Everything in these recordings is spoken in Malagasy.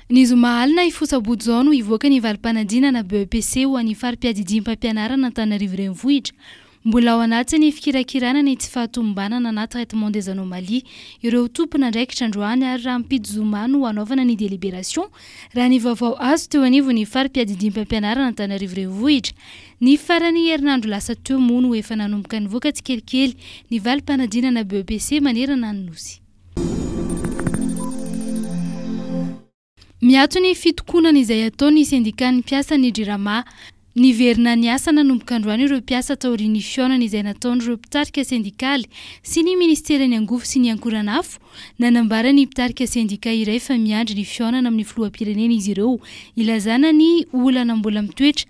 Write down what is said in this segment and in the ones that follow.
Ny zoma alina hifosa-boto izao no hivoaka ny valim-panadinana BEPC ho an'ny fari-piadidiam-pampianarana Antananarivo Renivohitra. Mbola ao anatin'ny fikirakirana ny tsy fahatomombanana na traitement des anomalies ireo tompon'andraikitra androany ary rahampitso zoma no hanaovana ny délibération raha ny vaovao azo teo anivon'ny fari-piadidiam-pampianarana Antananarivo Renivohitra. Ny faran'ny herinandro lasa teo moa no efa nanomboka nivoaka tsikelikely ny valim-panadinana BEPC manerana ny Nosy. Miato ny fitokonana izay ataon'ny sendikan'ny mpiasan'ny Jirama. Niverina niasa nanomboka androany ireo mpiasa taorian'ny fihaonana izay nataon'ireo mpitarika sendikaly sy ny ministeran'ny Angovo sy ny Ankoranafo. Nanambara ny mpitarika sendika iray fa miandry ny fihaonana amin'ny filoham-pirenena izy ireo hilazana ny olana mbola mitoetra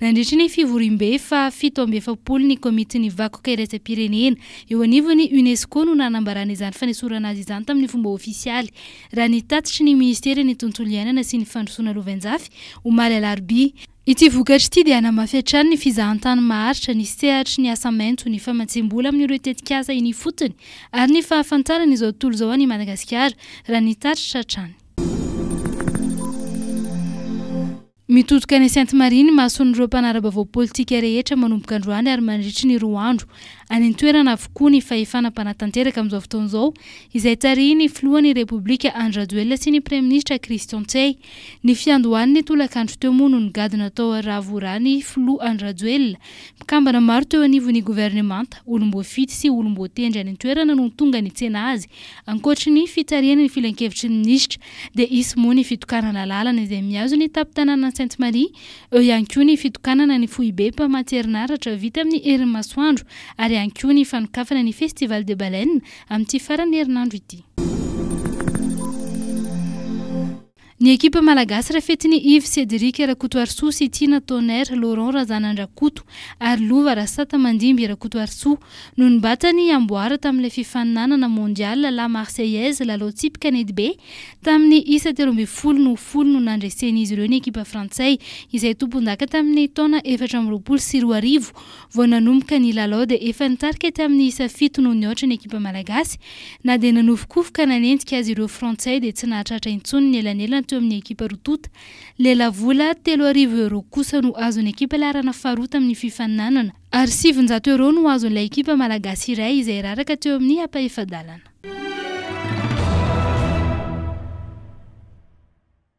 Nandritra ny fivoriambe faha fito amby efapolo ny Komitin'ny Vakoka Iraisam-pirenena eo anivon'ny UNESCO no nanambarana izany fanesorana azy izany tamin'ny fomba ofisialy, raha ny tatitry ny Minisiteran'ny Tontolo Iainana sy ny Fandrosoana Lovainjafy, omaly alarobia. Ity vokatra ity dia hanamafy hatrany ny fizahantany maharitra, ny sehatry ny asa maitso, ny famatsiam-bola amin'ireo tetikasa eny ifotony ary ny fahafantarana izao tontolo izao an'i Madagasikara, raha ny tatitra hatrany. Mitodika any Sainte-Marie ny mason'ireo mpanara-baovao politika rehetra manomboka androany ary mandritry ny roa andro. Any an-toerana avokoa ny fahefana mpanatanteraka amin'izao fotoana izao izay tarihin'ny filohan'ny Repoblika Andry Rajoelina sy ny praiminisitra Christian Ntsehy. Ny fiandohan'ny tolakandro teo moa no nigadona tao Ravorà ny filoha Andry Rajoelina. Mpikambana maro teo anivon'ny governemanta, olom-boafidy sy olom-boatendry any an-toerana no tonga nitsena azy ankoatry ny fitarihana ny filankevitry ny minisitra dia hisy moa ny fitokanana lalana izay mihazo ny tampon-tanànan'i Sainte Marie, eo ihany koa ny fitokanana ny foibe mpamatsy herinaratra vita amin'ny herin'ny masoandro ary ihany koa ny fanokafana ny Festival des Baleines amin'ity faran'ny herinandro ity. Ny ekipa malagasy rafetin'i Yves Cédric Rakotoarisoa sy Tiana Tonnerre Laurent Razanandrakoto ary Lova Rasata Mandimby Rakotoarisoa Nonombatany amboara tamin'ilay fifaninanana Mondial La Marseillaise, lalao tsipika netibe, tamin'ny isa telo ambin'ny folo no ho folo no nandresen'izy ireo ny ekipa frantsay, izay tompondaka tamin'ny taona efatra amby roapolo sy roa arivo. Vao nanomboka ny lalao dia efa nitarika tamin'ny isa fito noho ny aotra ny ekipa malagasy. Na dia nanofokofoka nanenjika azy ireo frantsay dia tsy nahatratra intsony ny elanelana teo amin'ny ekipa roa tonta. Lelavola telo arivo euros kosa no azon'ny ekipa laharana faharoa tamin'ny fifaninanana. Ar sivinjato euros no azon'ilay ekipa malagasy iray izay raraka teo amin'ny ampahefa-dalana.